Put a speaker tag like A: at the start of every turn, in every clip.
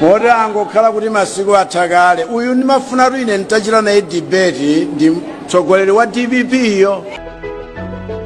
A: moti angokhala kuti masiku atha kale uyu ndimafunatu ine nditachita naye debate ndi mtsogoleri wa dpp yo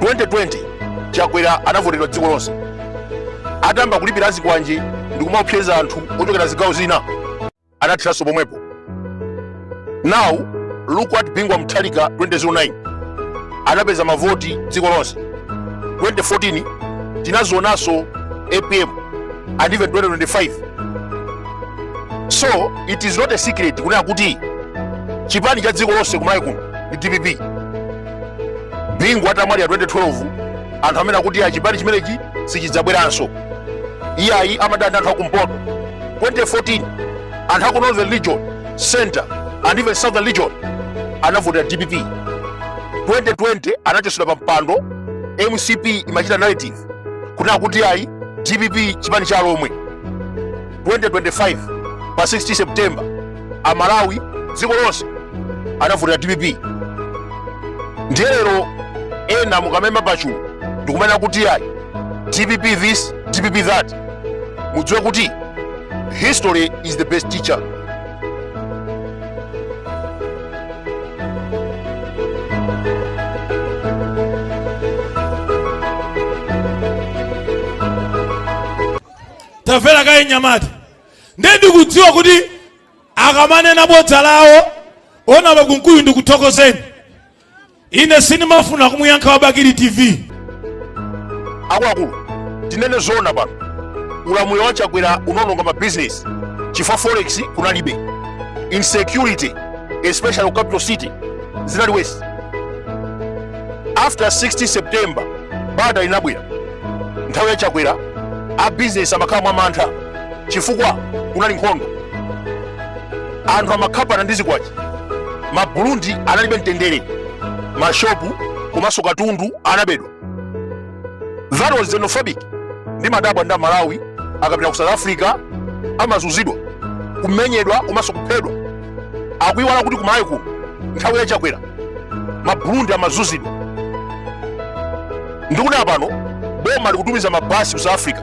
A: 2020
B: chakwera anavotedwa dziko lonse atamba kulipira a zikwanje ndi kumawopseza anthu ochokera zigawo zina anatheranso pomwepo now look at bingu wa mutharika 2009 anapeza mavoti dziko lonse 2014 tinazionanso apm and even 2025 so it is not a secret kunena kuti chipani cha dziko lonse kumalawi kuno ndi dpp bingu atamwalira 2012 anthu amanena kuti chipani chimenechi sichidzabweranso iyayi amadana ndi anthu akumpoto 2014 anthu aku northern region center and even southern region anavotera dpp 2020 anachotsedwa pa mpando mcp imachita narrative kunena kuti ayi dpp chipani cha alomwe 2025 pa 16 september amalawi dziko lonse anavotera dpp ndiye lero ena mukamaima pachulu ndikumanena kuti ayi dpp this dpp that mudziwe kuti History is the best
C: teacher. tamverani kaye anyamata ndiye ndikudziwa kuti akamanena bodza lawo onaba Kunkuyu ndikuthokozeni ine sindimafuna kumuyankha wa bakili
B: tv akuluakulu tinene zoona pano ulamuliro wa chakwera unaononga mabizinesi chifukwa forex kunalibe insecurity especially ku capital city zinali worse after 16 september bata linabwera nthawi ya chakwera abizinesi amakhala mwa mantha chifukwa kunali nkhondo anthu amakhapana ndi zikwanje maburundi analibe mtendere mashopu komanso katundu anabedwa that was xenophobic ndimadabwa ndi amalawi akapita ku south africa amazunzidwa kumenyedwa komanso kuphedwa akuiwala kuti kumalawi kuno nthawi ya chakwera maburundi amazunzidwa ndi kuno pano boma likutumiza mabasi ku south africa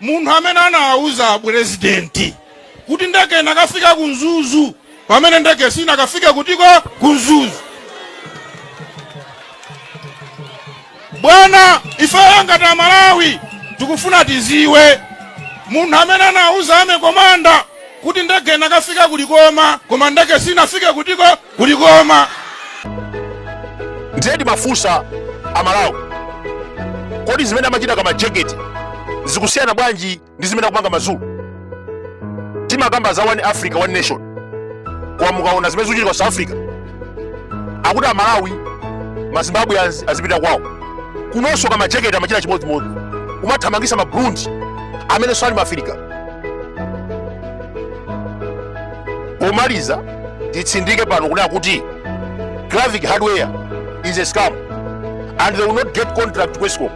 C: munthu amene anawauza apurezidenti kuti ndege inakafika ku mzuzu pamene ndege sinakafike kutiko ku mzuzu bwana ifeyo ngati amalawi tikufuna tidziwe munthu amene anawuza army commander kuti ndege inakafika ku likoma koma ndege sinafike kutiko
B: kulikoma ndiye timafunsa amalawi kodi zimene amachita kamajekete zikusiyana bwanji ndi zimene akupanga mazulu timakamba za one africa one nation koma mukaona zimene zikuchitika south africa akuti amalawi mazimbabwe az- azipita kwawo kunonso kamajekete amachita chimodzimodzi kumathamangisa maburundi amenenso ali maafirika pomaliza titsindike pano kunena kuti clavic hardware is a scam and they will not get contract ku escom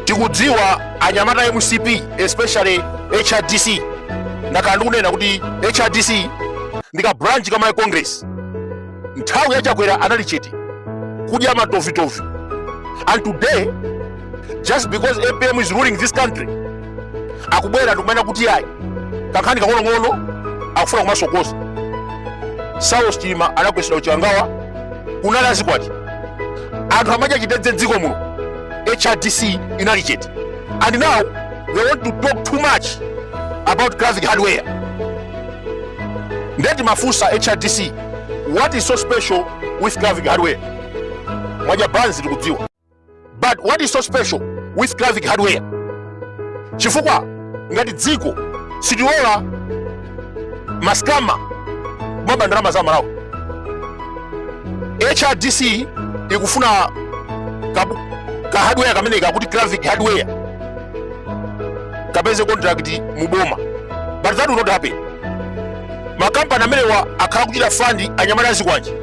B: tikudziwa anyamata a mcp especially hrdc ndakhala ndikunena kuti hrdc ndi ka branch ka malawi congress nthawi ya chakwera anali chete kudya matovitovi and today just because apm is ruling this country akubwera ndikumanena kuti ayi kankhani kang'onong'ono akufuna kumasokosa saulos chilima anagwetsedwa kuchikangawa kunali azikwanje anthu amadya chitedze mdziko muno hrdc inali chete and now they want to talk too much about clavic hardware nde timafunsa hrdc what is so special with clavic hardware mwadya banzi tikudziwa but what is so special with clavic hardware chifukwa ngati dziko sitilola maskama kumaba ndalama za amalawi hrdc ikufuna ka, ka hardware kameneka kakuti clavic hardware kapeze contract mu boma but that will not happen makampani amenewa akhala kuchita fund anyamata azikwanje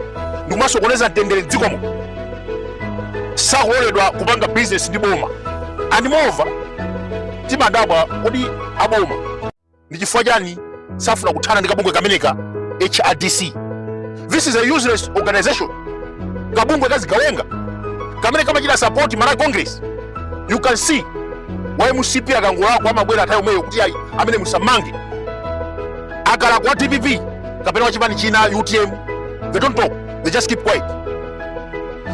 B: ndikumasokoneza mtendere mdziko muno sakaloledwa kupanga bizinesi ndi boma and moreover timadabwa kodi aboma ndi chifukwa chani safuna kuthana ndi kabungwe kameneka hrdc this is a useless organization kabungwe kazigawenga kamene kamachita support malawi congress you can see wa mcp akangolakwa amabwera nthawi yomweyo kuti ayi ameneyu musammange akalakwa wa dpp kapena wachipani china utm they don't talk they just keep quiet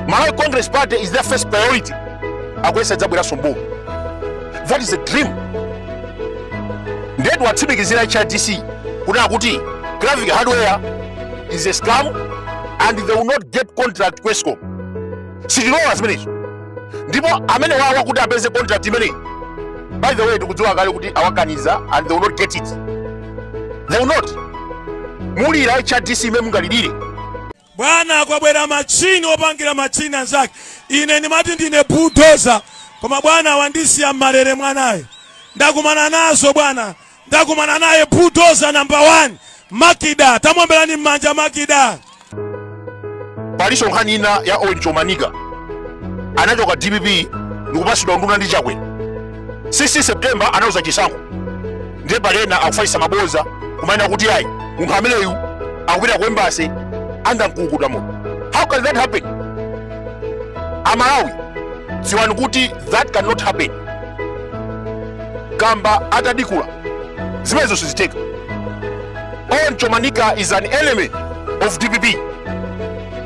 B: malawi congress party is their first priority akuyesa idzabweranso mboma that is a dream nde tiwatsimikizire hrdc kunena kuti clavic hardware is a scam and they will not get contract ku escom sitilola zimenezo ndipo amenewawa kuti apeze contract imeneyi by the way tikudziwa kale kuti awakaniza and they will not get it they will not mulira hrdc mmene mungalilire
D: Bwana, kwabwera machine opangira machine anzake. Ine ndimati ndine bulldozer, koma bwana wandisiya m'malere mwanayo. Ndakumana nazo bwana, ndakumana naye bulldozer number one Makida. Tamwombelani m'manja
B: Makida. palinso nkhani ina ya Owen Chomanika anachoka dpp ndikupatsidwa unduna ndi chakwe 16 september anawuluza chisankho ndiye pali ena akufalitsa maboza kumanena kuti ayi munthu ameneyu akupita ku embassy angamukulukuta moto how can that happen amalawi dziwani kuti that cannot happen kamba atadikula zimenezo sizitheka owen chomanika is an enemy of dpp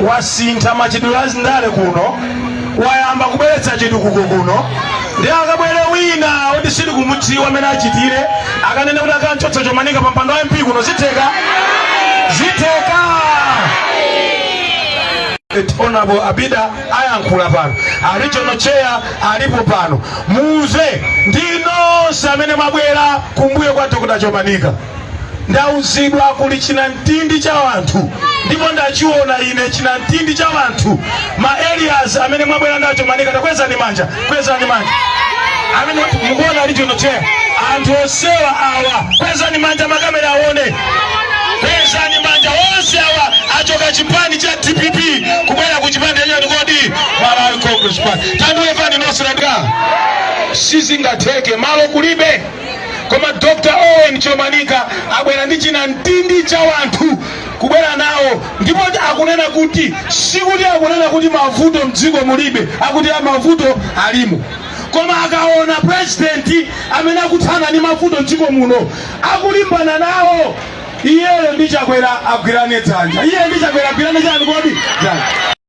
E: wasintha machitidwe a ndale kuno wayamba kubweretsa chitukuko kuno ndiye akabwere wina oti sitikumudziwa amene achitire akanene kuti akamchotsa chomanika pa mpando wa mp kuno zitheka zitheka honorable abida ayankhula pano regional chair alipo pano muuze ndi nonse amene mwabwera kumbuyo kwa dr chomanika ndauzidwa kuli chinamtindi cha wanthu ndipo ndachiona ine chinamtindi cha wanthu ma areas amene mwabwera na chomanika takwezani manja kwezani manja amene mukuona a regional chair anthu onsewa awa kwezani manja makamera aone kwezani manja onse awa achoka chipani cha dpp kubwera ku chipani chachani kodi malawi congress party tandimvani nonse nandika sizingatheke malo kulibe koma dr owen chomanika abwera ndi chinamtindi cha wanthu kubwera nawo ndipo akunena kuti sikuti akunena kuti mavuto mdziko mulibe akuti a mavuto alimo koma akaona purezidenti amene akuthana ndi mavuto mdziko muno akulimbana nawo iyeyo ndi chakwera agwirane dzanja iye ndi chakwera agwirane chani kodi dzanja